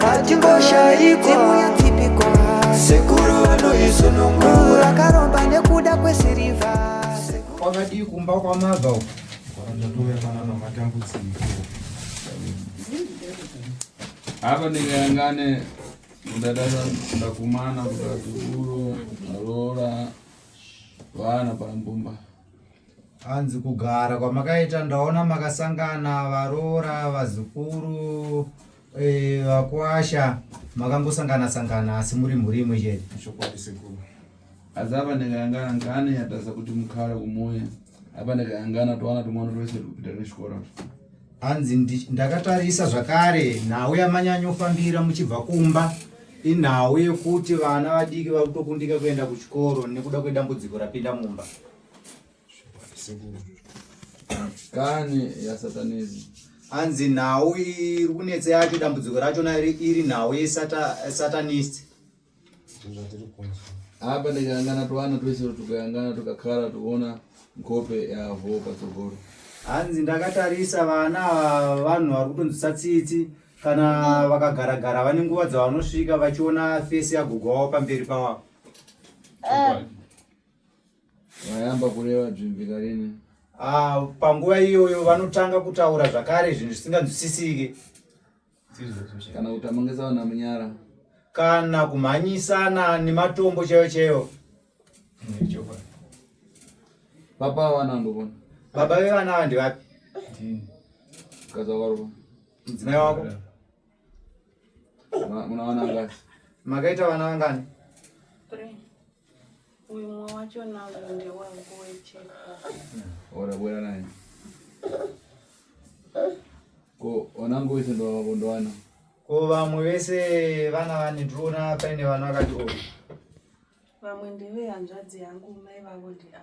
hatingoshayi dzimu yetsipiko sekuru vanoizunungura akaromba nekuda kwesirivha kwakadii kumba kwamaza uko kwakandatove kana namatambudziko apa ndikayangane kudadada ndakumana kudadzukuru aroora vana pambumba hanzi kugara kwamakaita ndaona makasangana varoora vazukuru Eh, vakwasha makangosangana sangana asi muri mhuri imwe chete chokwadi sekuru asi apa ndikayangana ngane yatadza kuti mukhala kumuya apa ndikayangana towana tumwana twese tukupita nechikora hanzi ndakatarisa zvakare nhau yamanyanyofambira muchibva kumba inhau yekuti vana vadiki vakutokundika kuenda kuchikoro nekuda kwedambudziko rapinda mumba kani yasatanezi hanzi nhau iri kunetsa yacho dambudziko rachona iri nhau yesatanist apa ndikayangana twana twese tukayangana tukakara tuona nkope yavo patsogoro hanzi ndakatarisa vana vanhu vari kutonzwisa tsitsi kana vakagaragara vane nguva dzavanosvika vachiona fesi yagogo wavo pamberi pawavo Vayamba kureva dzvimvika rini? Ah, panguva iyoyo vanotanga kutaura zvakare zvinhu zvisinganzwisisike. Kana kutamangisa vana munyara. Kana kumhanyisana nematombo chaiyo chaiyo. Papa vana ndovona. Baba vevana ava ndivapi? Mukadzi wako aripo. Mudzimai wako. Muna vana ngani? Makaita vana vangani? Three. Uyu mwe wacho nangu ndewangu wechekwa. Ora bwera naye. Ko onangu wese ndo wako ndo wana. Ko vamwe vese vana vani ndrona paine vana vakati o. Vamwe ndeve hanzvadzi yangu mai vavo ndi a.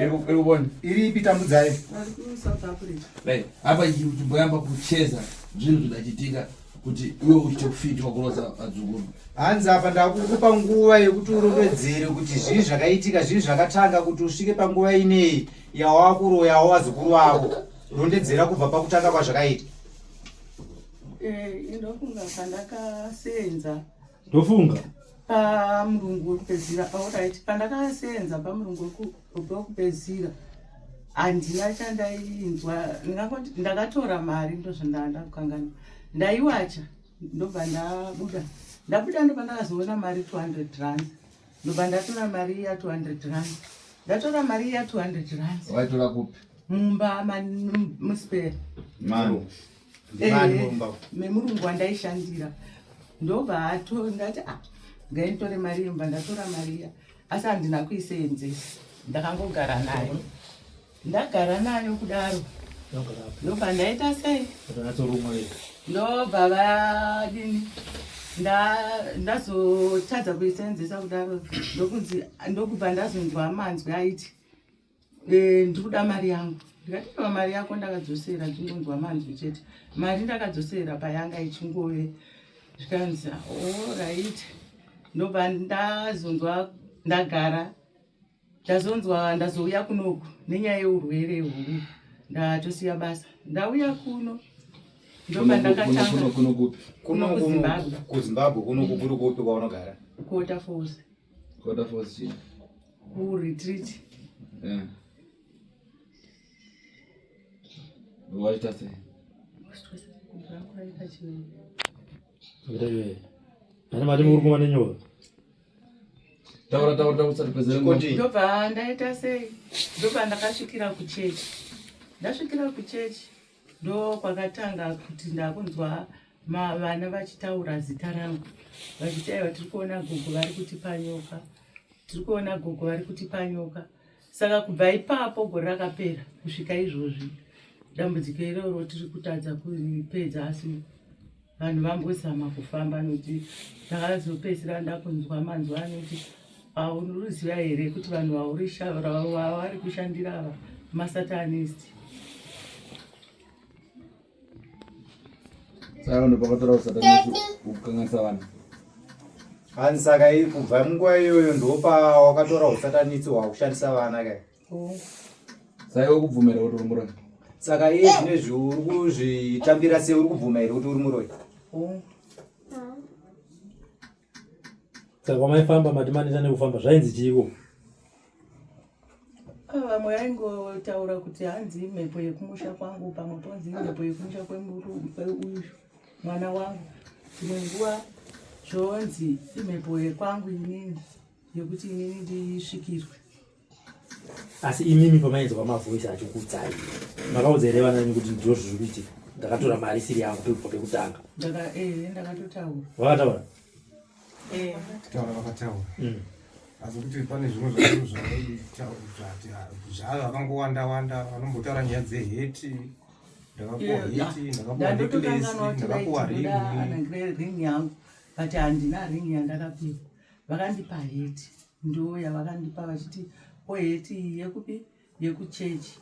irikubona iri ipi tambudzai apa chimboyamba kucheza zvinhu zvidachitika kuti iwe uchite kufitwa kuroza vadzukuru hanzi apa ndakukupa nguva yekuti urondedzere kuti zvii zvakaitika zvii zvakatanga kuti usvike panguva ineyi yawakuroyawo vazukuru vavo rondedzera kubva pakutanga kwazvakaita eh, ndofunga pandakasenza ndofunga pamurungu wekupedzira aurit ah, pandakaseenza pamurungu wekupedzira handina chandainzwa ndakatora mari ndozvandaa ndakukangana ndaiwacha ndobva ndabuda ndabuda ndobva ndakazoona mari 200 rand ndobva ndatora mari iya 200 rand ndatora mari iya 200 rand waitora kupi mumba muspera memurungu eh, wandaishandira ndobva ato ndati a ah, ngainditore mari yemba ndatora mariya asi handina kuiseenzesa ndakangogara nayo ndagara nayo kudaro ndobva ndaita sei ndobva vadini ndazotadza kuiseenzesa kudaro ndokubva ndazonzwa manzwi aiti eh, ndiri kuda mari yangu ndikateva mari yako ndakadzosera ndingonzwa manzwi chete mari ndakadzosera payanga ichingove zvikanzi orit oh, ndobva ndazonzwa ndagara ndazonzwa ndazouya kunoku nenyaya yeurwere huru ndatosiya basa ndauya kuno ndobva ndakatanga kuno kuzimbabwe kuzimbabwe kunoku kuri kupi kwaunogara kota fose kota fose kuretreat yeah. waita sei ana mati muri kumane nyora taura taura taura usati pedzerendobva ndaita sei ndobva ndakasvikira kuchechi ndasvikira kuchechi ndo kwakatanga kuti ndakunzwa vana vachitaura zita rangu vachiti aiwa tiri kuona gogo vari kutipa nyoka tiri kuona gogo vari kutipa nyoka saka kubva ipapo gore rakapera kusvika izvozvi dambudziko iroro tiri kutadza kuripedza asi vanhu vambozama kufamba nokuti ndakazopedzisira ndakunzwa manzwa anoti aunoruziva here kuti vanhu vauri kushandira ava masatanist hanzi saka kubva munguva iyoyo ndopa wakatora usatanisi hwakushandisa vana kai saka uri kubvumira kuti uri muroyi saka iye zvine zviuri kuzvitambira sei uri kubvuma here kuti uri muroyi saka kwamaifamba mati maneta nekufamba zvainzi chiiko ah, vamwe vaingotaura kuti hanzi imhepo yekumusha kwangu pamwe ponzi imhepo yekumusha kweuyu mwana wangu dzimwe nguva zvonzi imhepo yekwangu inini yekuti inini ndisvikirwe asi imimi pamainzwa mavoice acho kuudzai makaudza here vana venyu kuti ndizvo zviri kuitika ndakatora mari isiri yangu pekubva pekutanga eh, vakataura eh. taura vakataura mm. asi kuti pane zvimwe zvaio zvaaiti ah, zvavo vakangowanda wanda vanombotaura nyaya dzeheti ndakapuwa heti ndakapuwa neklesi ndakapuwa ringi but handina ringi yandakapiwa vakandipa heti ndo yavakandipa vachiti o heti iyi yekupi yekuchechi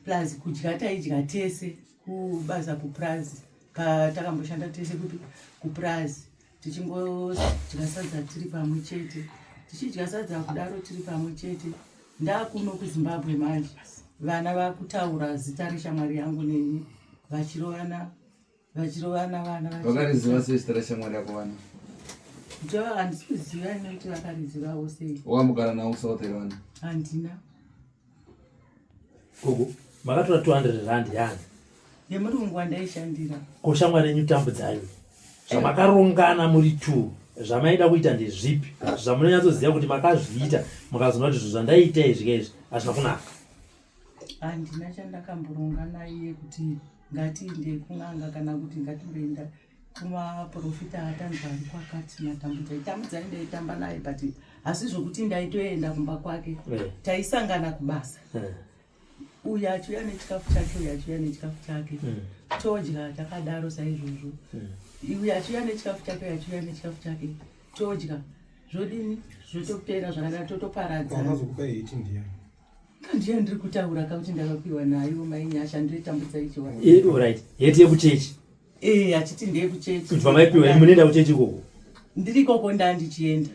plus kudya taidya tese kubasa kupurazi patakamboshanda tese kupi kupurazi tichingodya sadza tiri pamwe chete tichidya sadza kudaro tiri pamwe chete ndakuno kuzimbabwe manje vana vakutaura zita reshamwari yangu neni vachirovana vachirovana vana vakariziva sei zita rashamwari yako vana jo handisi kuziva ine kuti vakarizivawo sei wakamugara nawo kusouth here vana handina gogo makatora 200 rand yani yemurungu wandaishandira ko shamwari yenyu tambudzayo zvamakarongana muri two zvamaida kuita ndezvipi zvamunonyatsoziva kuti makazviita mukazoona kuti zvo zvandaiita izvi kaizvi hazvina kunaka handina chandakamboronga naiye kuti ngatiinde kun'anga kana kuti ngatimboenda kumaprofita atanzi ari kwakati matambudza itambudza indaitamba naye but asi zvokuti ndaitoenda kumba kwake eh. taisangana kubasa eh. uyu achiuya nechikafu chake uyu achiuya nechikafu chake eh. todya takadaro saizvozvo uyu achiuya nechikafu chake uyu achiuya nechikafu chake todya zvodini zvotopera zvakadaro totoparadzaa Ndiye ndiri kutaura ka kuti ndakapiwa nayo mai Nyasha ndoitambudza icho. Eh, all right. Yeti yekuchechi. Eh, achiti ndiye kuchechi. Kuti vamaipiwa munoenda kuchechi koko. Ndiri koko ndandichienda.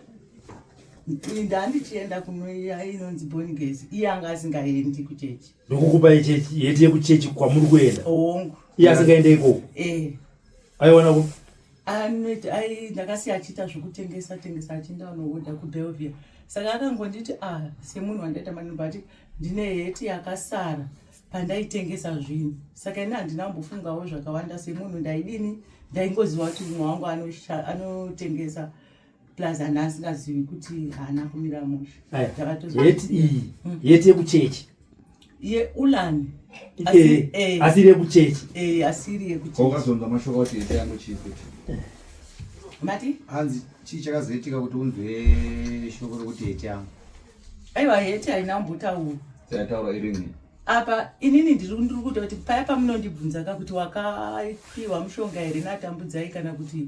Ndandichienda kunoiya inonzi Born Gaze. Iye anga asingaendi kuchechi. Ndokukupa ichechi yeti yekuchechi kwamuri kuenda. Hongu. Iye asingaende ikoko. Eh. Aiwana ku anoita ai ndakasiya achiita zvokutengesa tengesa achienda anohodha kubelvia saka akangonditi a ah, semunhu wandaita manimba ati ndine heti yakasara pandaitengesa zvinhu saka ini handina kumbofungawo zvakawanda semunhu ndaidini ndaingoziva kuti mumwe wangu anotengesa plus ana asingazivi kuti haana kumira mushe yeti iyi hmm. yeti yekuchechi yeulani eh, eh. asiri yekuchechi eh, asiri yekuchechiwakazonza mashoko kuti yete yangu chii kuti mati hanzi chii chakazoitika kuti unzwe shoko rekuti yete yangu aiwa yete haina mbotaura dzataura irini apa inini ndiri ndiri kuita kuti paya pamunondibvunza ka kuti wakaipiwa mushonga here natambudzai kana kuti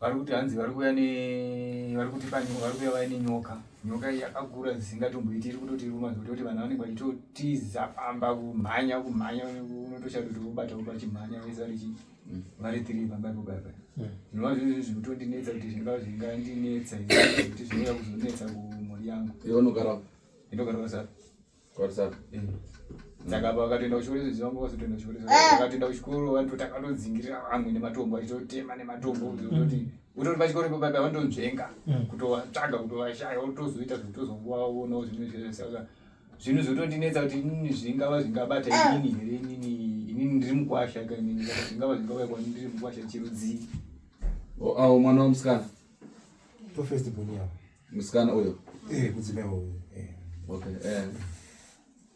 vari kuti hanzi vari kuuya ne vari kuti vari kuuya vaine nyoka nyoka iyi yakakura dzisingatomboiti iri kutoti ruma zvekuti kuti vanhu vanenge vachitotiza pamba kumhanya kumhanya unotoshaya kuti vobata voba chimhanya vese vari chii mm. vari tiri pamba ipo baba mm. zvinova zvizvi zviri kutondinetsa kuti zvingava zvingandinetsa kuti zvinouya kuzonetsa kumhuri yangu inogara inogara sa saka vakatoenda kuchikoro izvezvi vanga vazotoenda kuchikoro izvezvi eh. vakatoenda kuchikoro vantu takatodzingirira vamwe nematombo vachitotema nematombo mm. zvokuti utori pachikoro ipo paipa vantonzvenga mm. kutovatsvaga kutovashaya votozoita zvekutozongovaonawo zvinhu izvezvi saka zvinhu zvotondinetsa kuti inini zvingava zvingabata eh. inini here inini inini ndiri mukwasha ka inini aa zvingava zvingauya kwani ndiri mukwasha chirudzii awo mwana wamusikana profest boniavo musikana uyo eh, kudzimai uyo eh. okay eh.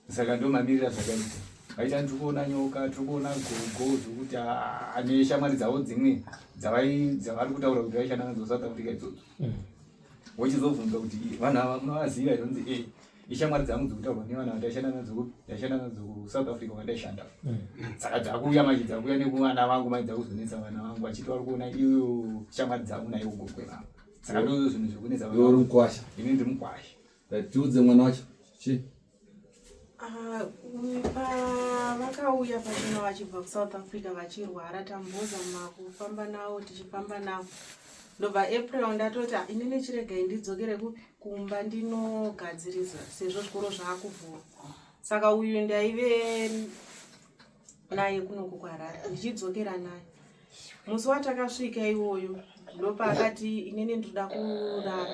saka ndo mamirira zvakaita vaita tiri kuona nyoka tiri kuona gogo zvekuti ah, ane shamwari dzavo dzimwe dzavari kutaura kuti vaishanda nadzo south africa idzodzo mm. wochizobvunza kuti vanhu ava munovaziva here unzi e ishamwari dzangu dzikutaurwa nevana vandaishanda nadzo ndaishanda nadzo kusouth africa kwandaishanda mm. saka dzakuuya manje dzakuuya nekuvana vangu mai dzakuzonetsa vana vangu vachiti vari kuona iyo shamwari dzangu naiwo gogwe vangu saka ndozvo zvinhu zvekunetsa iwe uri mukwasha ini ndiri mukwasha tiudze mwana wacho chii ah, vakauya pachino vachibva kusouth africa vachirwara tamboza makufamba navo tichifamba navo ndobva april ndatoti ah, inini chiregai ndidzokere kumba ndinogadzirisa sezvo zvikoro zvaakuvhura saka uyu ndaive naye kunoku kuharare ndichidzokera naye musi watakasvika iwoyo ndopa akati inini ndinoda kurara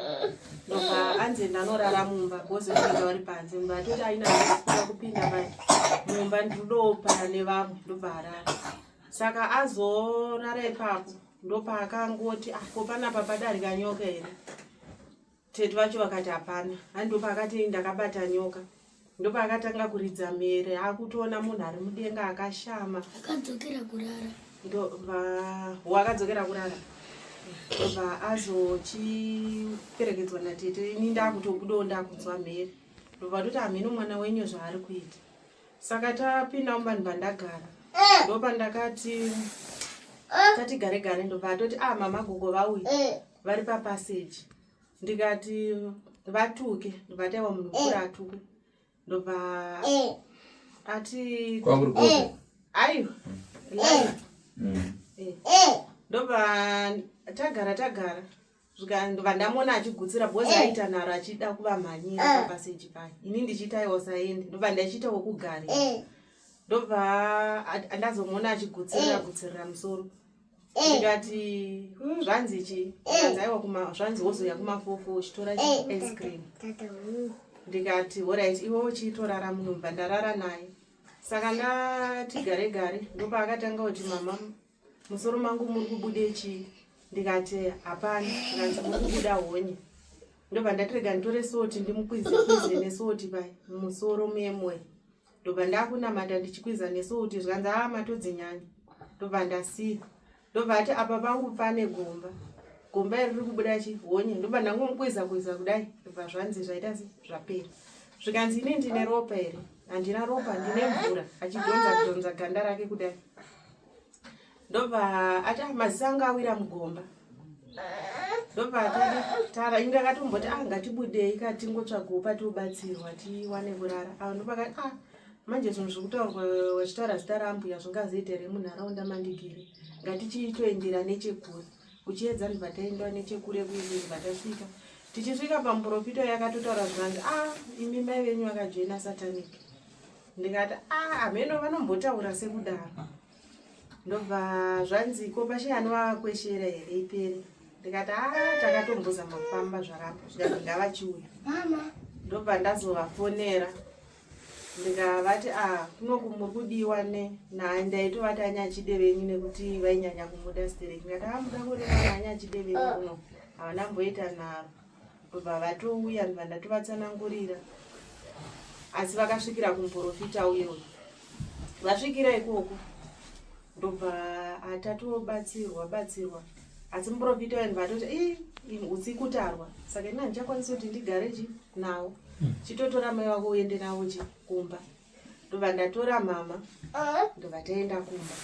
ndopa anzi ndanorara mumba bhozi kupinda vari panze mumba atoti aina aa kupinda pai mumba ndinodopara nevamwe ndobva arara saka azorara ipapo ndopaakangoti ah, ko panapa padarika nyoka here Tete vacho vakati hapana. Hani ndopaakati ndakabata nyoka. Ndopaakatanga kuridza mhere akutoona munhu ari mudenga akashama. Akadzokera kurara. Ndobva wakadzokera kurara. Ndobva azochiperekedzwa natete ini ndakutobudawo ndakunzwa mhere. Ndobva toti hameno mwana wenyu zvaari kuita. Saka tapinda muvanhu vandagara. Eh. Ndopandakati eh. tatigare gare ndobva atoti ah mama gogo vauya. Eh. vari papassage ndikati vatuke ndikati aiwa munhu mukuru atukwe ndobva ati aiwa ndobva tagara tagara ndobva ndamona achigutsira bhozi eh. aita nharo achida kuvamhanyira eh. papaseji paye ini ndichiita iwo saende ndobva ndachiita wekugarira eh. ndobva ndazomona achigutsira gutsirira musoro Eh. ndikati hmm, zvanzi chi eh. zvanzi aiwa kuma zvanzi wozoya kumafufu uchitora eh, ice cream ndikati horit iwe uchitorara munobva ndarara naye saka ndati gare gare ndopa akatanga kuti mama musoro mangu muri kubude chii ndikati hapana ndanzi muri kubuda honye ndobva ndatirega nditore soti ndimukwizekwize nesoti pai musoro memwe ndobva ndakunamata ndichikwiza nesu kuti zvikanzi aa matodzinyanya ndobva ndasiya ndobva ati apa pangu pane gomba gomba iri riri kubuda chi honye ndobva ndangomukwiza kwiza kudai ndobva zvanzi zvaita se zvapera zvikanzi ini ndine ropa here handina ropa ndine mvura achidhonza dhonza ganda rake kudai ndobva ati ah, maziso anga awira mugomba ndobva atati tara inge akatomboti ah ngatibudei ka tingotsvagawo patiubatsirwa tiwane kurara ava ah, ndopakati ah manje zvinhu zviri kutaurwa vachitaura zita raambuya zvingazoita here munharaunda mandigere ngatichitoendera nechekure uchiedza ndibva taendewa nechekure kuende ndibva tasvika tichisvika pamuprofita yakatotaura zvikanzi ah imi mai venyu vakajoina satanic ndikati ah, hameno vanombotaura sekudaro ndobva zvanzi ko pashe ani vakweshera here ipere ndikati a ah, takatombozama kufamba zvarapa zvikanzi ngavachiuya ndobva ndazovafonera ndikavati a ah, kunoku muri kudiwa ne naye ndaitovati anyachide venyu nekuti vainyanya kumuda stereki ndikati amuda ah, kureva naanyachidevenyu kuno havana mboita naro kubva vatouya ndibva ndatovatsanangurira asi vakasvikira kumuporofita uye uyu vasvikira ikoko ndobva atatobatsirwa batsirwa asi muporofita uye ndibva atoti i utsi kutarwa saka ini handichakwanisi kuti ndigare chi nawo hmm. chitotora mai vako uende navo chi kumba ndobva ndatora mama ndobva taenda kumba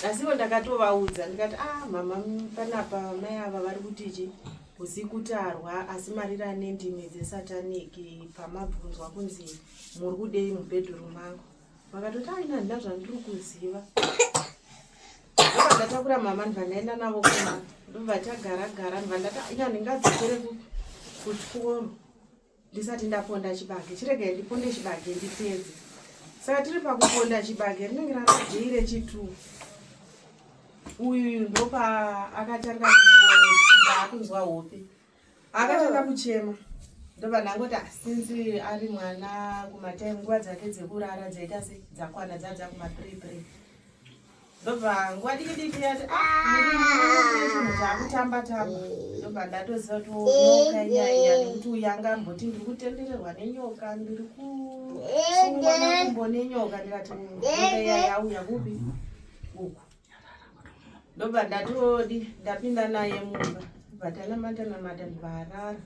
asiwo ndakatovaudza ndikati a ah, mama panapa mai ava vari kutichi kusi kutarwa asi marira nendimi dzesatanic pamabvunzwa kunzi muri kudei mubedroom mangu vakatoti aina handina zvandiri kuziva ndobva ndatakura mama ndibva ndaenda navo kuma ndobva tagara gara ndibva ndati ina ndingadzokere kuchikoro ndisati ndaponda chibage chiregai ndiponde chibage ndipedze saka tiri pakuponda chibage rinenge rarajei rechitu uyu ndopa akatanga kungoakunzwa hope akatanga kuchema ndobva ndangoti asinzi ari mwana kumatime nguva dzake dzekurara dzaita se dzakwana dzadza kumaprepre ndobva nguva diki diki yati chinhu chaakutamba tamba ndobva ndatoziva kuti nyoka inyaya nekuti uyu anga amboti ndiri kutendererwa nenyoka ndiri kusungwa makumbo nenyoka ndikati nyoka iya yauya kupi uku ndobva ndatodi ndapinda naye mumba ndobva tanamata namata ndobva arara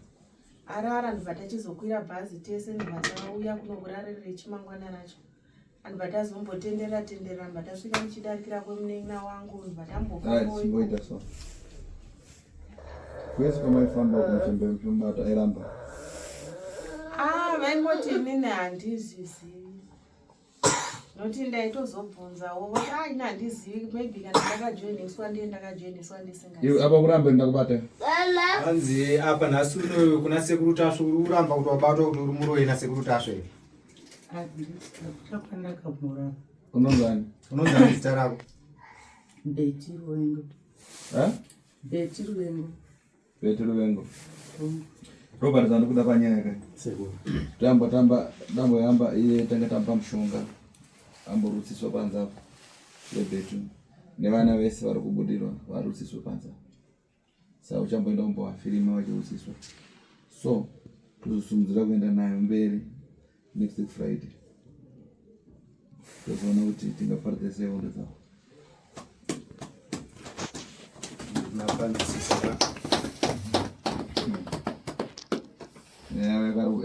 arara ndobva tachizokwira bhazi tese ndobva tauya kunokurarira rechimangwana racho vanhu vatazombotenderera tenderera vanhu vatasvika muchidarikira kwemunin'ina wangu vanhu vatambofaoita so kwese kwamaifamba kuchembe muchimubata airamba ah vaingoti inini handizvizivi noti ndaitozobvunzawo voti ah ini handizivi maybe kana ndakajoiniswa ndiye ndakajoiniswa ndisingaii apa kurambe ndakubata hanzi apa nhasi unoyo kuna sekuru tasve uri kuramba kuti wabatwa kuti uri muroyi nasekuru tasve unonzani unonzani zita rako beti ruvengo beti ruvengo beti ruvengo robert zandikuda panyaya ka tamba tamba dambo yamba iye tanga tamba mushonga amborutsiswa panze apo yebetu nevana vese vari kubudirwa varutsiswe panze apo saka uchamboenda kumbovafirima vachihusiswa so tozosumudzira kuenda nayo mberi next week friday tozoona kuti tingaparidza sei hondo dzavo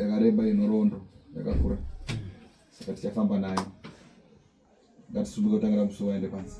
yakareba inorondo yakakura saka tichafamba nayo ngatisumuke kutangira musuwa ende pansi